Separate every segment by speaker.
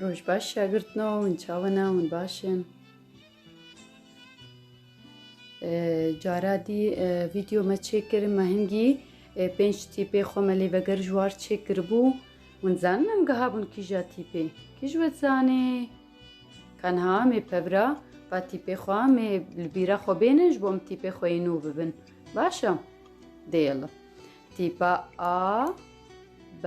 Speaker 1: Roj baş şagirtno hûn çawina hûn baş in. Cara dî vîdeo me çêkir me hingî pênc tîpê xwe me lê veger ji war çêkiribû hûn zanin em giha bûn kîja tîpê kî ji we zanê Kanha mê pebra va tîpê xwe mê li bîra xwe bênin ji bo em tîpê xwe yê nû bibin baş e dêl tîpa a B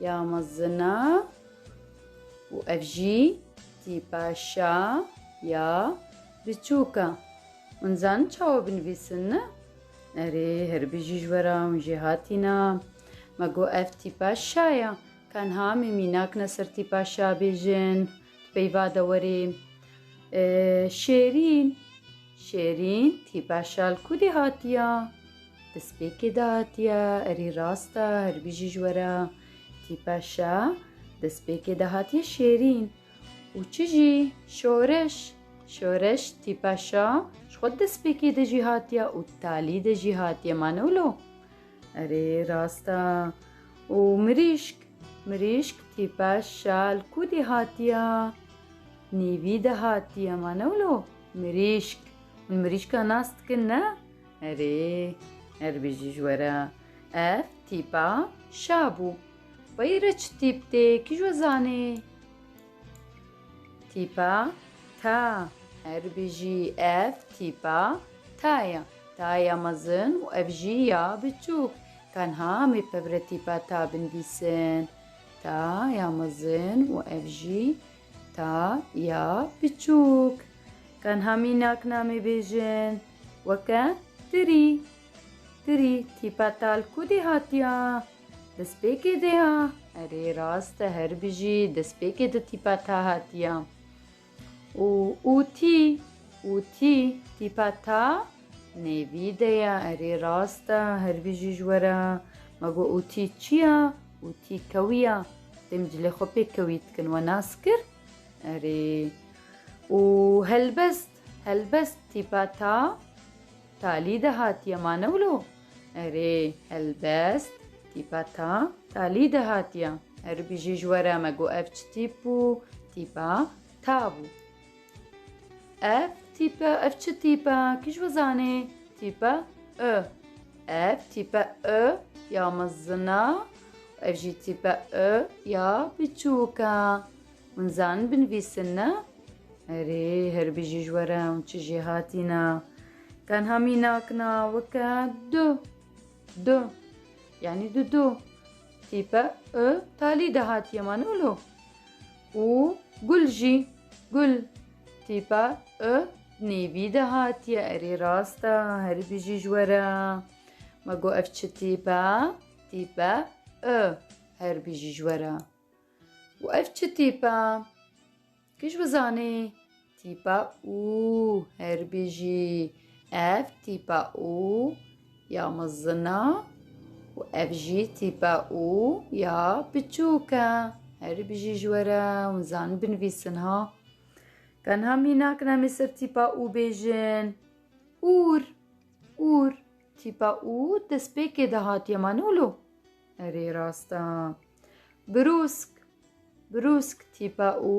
Speaker 1: ya mezina û ev jî tîpa şa ya biçûk e. Hûn zanin çawa binivîsin ne? Erê herbijî ji we re hûn jê hatîna. Me got ev tîpa şa ye. Tenha me mînak ne ser tîpa şa bêjin. Peyva dewerê Şêrîn. Şêrîn tîpa şal ku dê hatiya? Destpêkê de hatiya, erî rast e, hirbijî ji we re. Tîpa şa destpêkê de hatiye Şêrîn. Û çi jî? Şoreş. Şoreş tîpa şa ji xwe destpêkê de jî hatiya û talî de jî hatiye. Mane wilo? Erê rast e. Û mirîşk? Mirîşk, tîpe, şal ku dî hatiye? Nîvî de hatiye ma ne wilo? Mirîşk. Hûn mirîşka nas dikin ne? Erê. Erê bêjî ji we re. Ev tîpa şa bû. Peyî re çi tîp tê? Kî ji we zanê? Tîpa ta, herbijî ev tîpa ta ya, ta ya mezin û ev jî ya biçûk. Tenha em ê pevre tîpa ta bindîsin. Ta ya mezin û ev jî ta ya biçûk. Tenha mînak namê bêjin. Weke tirî. Tirî tîpa ta li ku dê hatiya? Destpêkê de ya? Erê rast e her bijî destpêkê de tîpa ta hatiya. Û û tî û tî tîpa ta nêvî de ya erê rast e her bijî ji we re me got û tî çi ya û tî kewî ya dê min cilê xwe pê kewî dikin we nas kir erê û helbest helbest tîpa ta Talî de hatiye ma ne wilo? Erê, helbest, tîpa ta, talî de hatiye. Erê bijî ji we re me got ev çi tîp bû? Tîpa ta bû. Ev tîpe, ev çi tîp e? Kî ji we zanê? Tîpe i. Ev tîpe i ya mezin e û ev jî tîpe i ya biçûk e. Hûn zanin binivîsin ne? Erê, her bijî ji were hûn çi jê hatîne. Tenha mînak na weke du. Du. Yanî du du. Tîpe i talî de hatiye ma ne wilo. Û gul jî. Gul. Tîpe i nêvî de hatiye. Erê rast e, her bijî ji were. Me got ev çi tîpe? Tîpe i her bijî ji were. Û ev çi tîp e? Kij bizanî? Tîpa û her bijî. Ev tîpa û ya mizin e û ev jî tîpa û ya biçûk e. Her bijî ji we re hûn zanîn binivîsin ha. Tenha mînak nemê ser tîpa û bêjin. Ûr, ûr. Tîpa û destpêkê de hatiye ma ne wilo? Erê rast e. Brûsk, brûsk tîpa û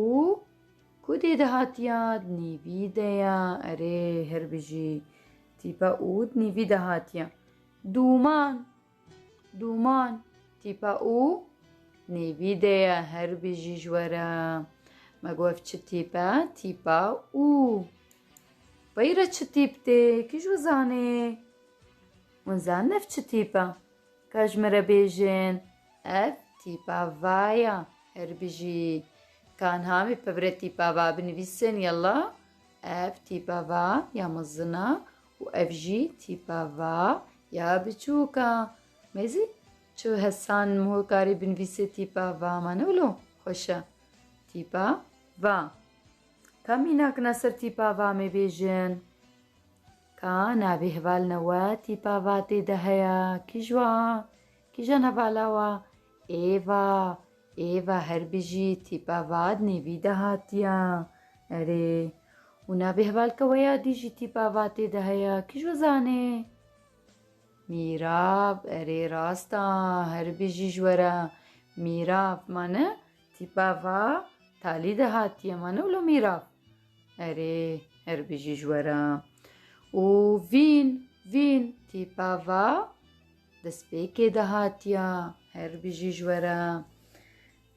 Speaker 1: ku dê de hatiya dinîvî de ya. Erê her bijî. Tîpa û dinîvî de hatiya. Dûman, dûman tîpa û dinîvî de ya. Her bijî ji we re. Me got ev çi tîp e? Tîpa û. Beyra çi tîp tê? Kî ji we zanê? Hûn zanin ev çi tîp e? Ka ji min re bêjin. Ev tîpa va ya. Her bijî. Tanha wî pevre tîpa va binivîsin yella. Ev tîpa va ya mezin a û ev jî tîpa va ya biçûk a. Mêzî çi hesan hokarî binivîsê tîpa va ma ne wilo xweş e. Tîpa va. Ka mînakina ser tîpa va me bêjin. Ka navê hevalina we tîpa va tê de heye kî ji wan? Kîjan e vala wa? Êva, êva her bijî tîpa vat nêvî de hatiya. Erê. Û navê hevalka we ya dî jî tîpa vatê de heye. Kîjo zanê? Mîrav, erê rast a, her bijî ji we re. Mîrav, mane tîpa va talî de hatiye, mane wilo mîrav? Erê, her bijî ji we re. Û vîn, vîn tîpa va Destpêkê de hatiya. Her bijî ji we re.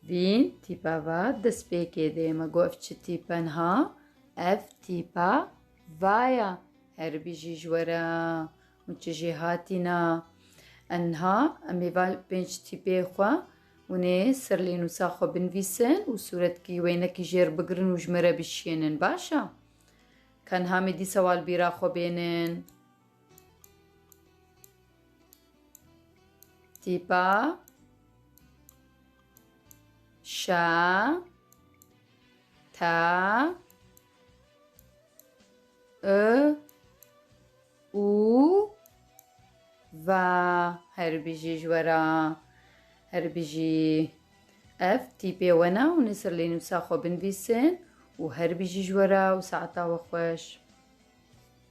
Speaker 1: Vî tîpa ve destpêkê dê. Me got ev çi tîpe niha? Ev tîpa va ye. Her bijî ji we re. Hûn çi jê hatîne? Em niha em ê va li pênc tîpê xwe hûn ê serlênûsa xwe binivîsin û sûretkî wênekî jêr bigirin û ji me re bişiyênin. Baş e? Ka niha me dîsa wa li bîra xwe bênin. Tîpa şa ta ı u va her bijî ji wera her bijî ev tîpê wena û nisir lê nûsa xwe binvîsin û her bijî ji wera û saeta we xweş.